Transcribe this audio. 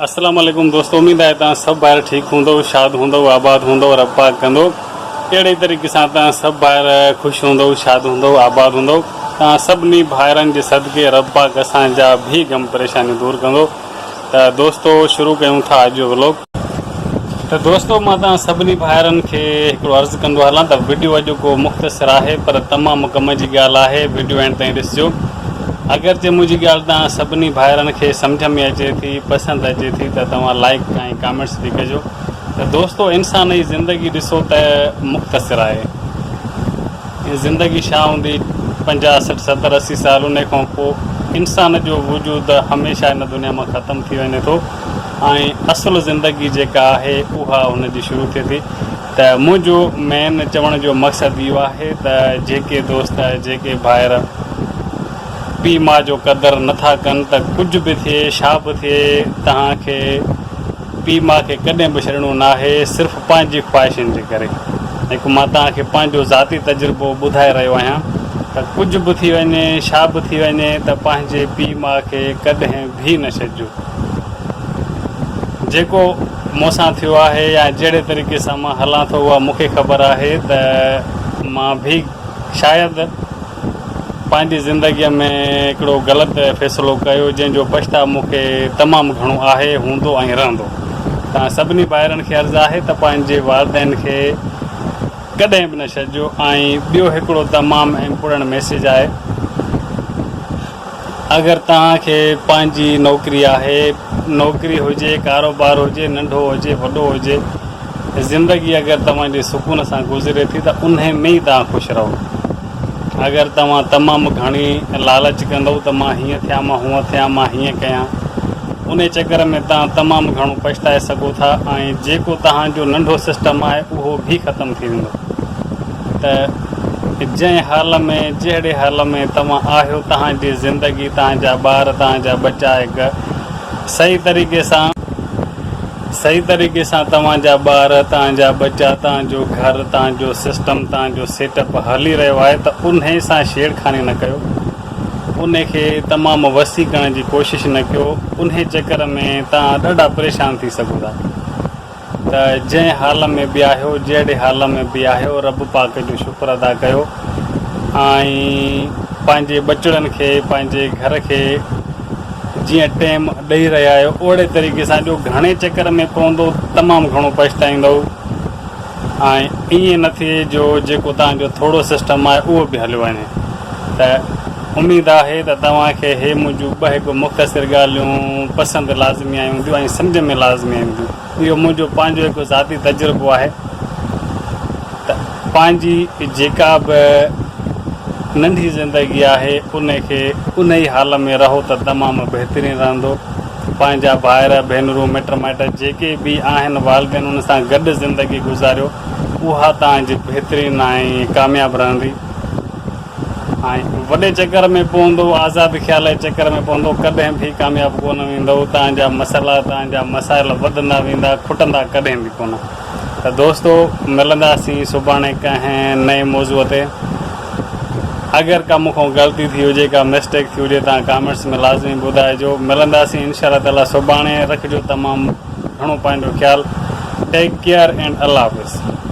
السلام علیکم دوستو اميد آهي تان سڀ ڀائر ٺيڪ هوندو شاد هوندو آباد هوندو رب پاڪ ڪندو اهڙي طريقي سان تان سڀ ڀائر خوش هوندو شاد هوندو آباد هوندو تان سڀني ڀائرن جي صدقي رب پاڪ اسان جا به غم پريشانيون دور ڪندو ته دوستو شروع ڪيون ٿا اڄ جو ولوگ. ته دوستو مان توهان سڀني ڀائرن کي هڪڙو عرض ڪندو هلان ته وڊيو اڄوڪو مختصر آهي پر تمام ڪم جي ڳالهه آهي وڊيو اينڊ تائين ڏسجو اگرچه منهنجي ڳالهه توهان سڀني ڀائرن کي سمجهه ۾ اچي ٿي پسند اچي ٿي ته توهان لائيڪ ۽ ڪامينٽس به ڪجو ته دوستو انسان اي زندگي ڏسو ته مختصر آهي. هي زندگي ڇا هوندي؟ پنجاهه، سٺ، ستر، اسي سال انهي کان پوء انسان جو وجود هميشه هن دنيا مان ختم ٿي وڃي ٿو ۽ اصل زندگي جيڪا آهي اها هن جي شروع ٿئي ٿي ته منهنجو مين چوڻ جو مقصد اهو آهي ته جيڪي دوست جيڪي ڀائر پي ماء جو قدر نٿا ڪن ته ڪجهه به ٿئي ڇا به ٿئي تهان کي پيء ماء کي ڪڏهن به ڇڏڻو ناهي صرف پنهنجي خواهشن جي ڪري هڪ مان توهان کي پنهنجو ذاتي تجربو ٻڌائي رهيو آهيان ته ڪجهه به ٿي وڃي ڇا به ٿي وڃي ته پنهنجي پيء ماء کي ڪڏهن به نه ڇڏجو جيڪو مون سان ٿيو آهي يا جهڙي طريقي سان مان هلان ٿو اها مون کي خبر آهي ته مان به شايد پنهنجي زندگيء ۾ هڪڙو غلط فيصلو ڪيو جنهن جو پڇتاء مون کي تمام گهڻو آهي، هوندو ۽ رهندو. توهان سڀني ڀائرن کي عرض آهي ته پنهنجي والدين کي ڪڏهن به نه ڇڏجو ۽ ٻيو هڪڙو تمام امپورٽنٽ ميسيج آهي اگر توهان کي پنهنجي نوڪري آهي نوڪري هجي ڪاروبار هجي ننڍو هجي وڏو هجي زندگي اگر توهان جي سڪون سان گذري ٿي ته انهي ۾ ئي توهان خوش رهو. اگر توهان تمام گهڻي لالچ ڪندؤ ته مان هيئن ٿيان مان هونئن ٿيان مان هيئن ڪيان انهي چڪر ۾ توهان تمام گهڻو پڇتائي سگهو ٿا ۽ جيڪو توهان جو ننڍو سسٽم آهي اهو به ختم ٿي ويندو ته جنهن حال ۾ جهڙي حال ۾ توهان آهيو توهان جي زندگي توهان جا ٻار توهان جا ٻچا هڪ صحيح طريقي سان صحيح طريقي سان توهان جا ٻار، توهان جا ٻچا، توهان جو گهر، توهان جو سسٽم، توهان جو سيٽ اپ هلي رهيو آهي ته انهي سان ڇيڙکاني نه ڪيو. انهي کي تمام وسيع ڪرڻ جي ڪوشش نه ڪيو. انهي چڪر ۾ توهان ڏاڍا پريشان ٿي سگهو ٿا. ته جنهن حال ۾ به آهيو، جهڙي حال ۾ به آهيو رب پاڪ جو شڪر ادا ڪيو ۽ پنهنجي ٻچڙن کي، پنهنجي گهر کي، جيئن ٽيم ڏئي رهيا آهيو اوهڙي طريقي سان ڏيو گهڻي چڪر ۾ پوندو تمام گهڻو پڇتائيندو ۽ ائين نه ٿئي جو جيڪو توهان جو ٿورو سسٽم آهي اهو به هليو وڃي ته اميد آهي ته توهان کي هي منهنجون ٻه هڪ مختصر ڳالهيون پسند لازمي آيون هونديون ۽ سمجهه ۾ لازمي اينديون. اهو منهنجو پنهنجو هڪ ذاتي تجربو آهي ته پنهنجي جيڪا به ننڍي زندگي آهي ان کي ان ئي حال ۾ رهو ته تمام بهترين رهندو. پنهنجا ڀائر، ڀينرون، مٽ مائٽ جيڪي به آهن والدين ان سان گڏ زندگي گذاريو اها تهان جي بهترين ۽ ڪامياب رهندي. وڏي چڪر ۾ پوندو آزاد خيال جي چڪر ۾ پوندو ڪڏهن ڀي ڪامياب ڪونه ويندو توهان جا مسئلا توهان جا مسائل وڌندا ويندا کٽندا ڪڏهن به ڪونه ته دوستو ملنداسين سڀاڻي ڪنهن نئين موضوع تي اگر ڪا مون کان غلطي ٿي هجي ڪا مسٽيڪ ٿي هجي توهان ڪامينٽس ۾ لازمي ٻڌائجو ملنداسين انشاء الله تعالي سڀاڻي رکجو تمام گهڻو پنهنجو خيال ٽيڪ ڪيئر اينڊ الله حافظ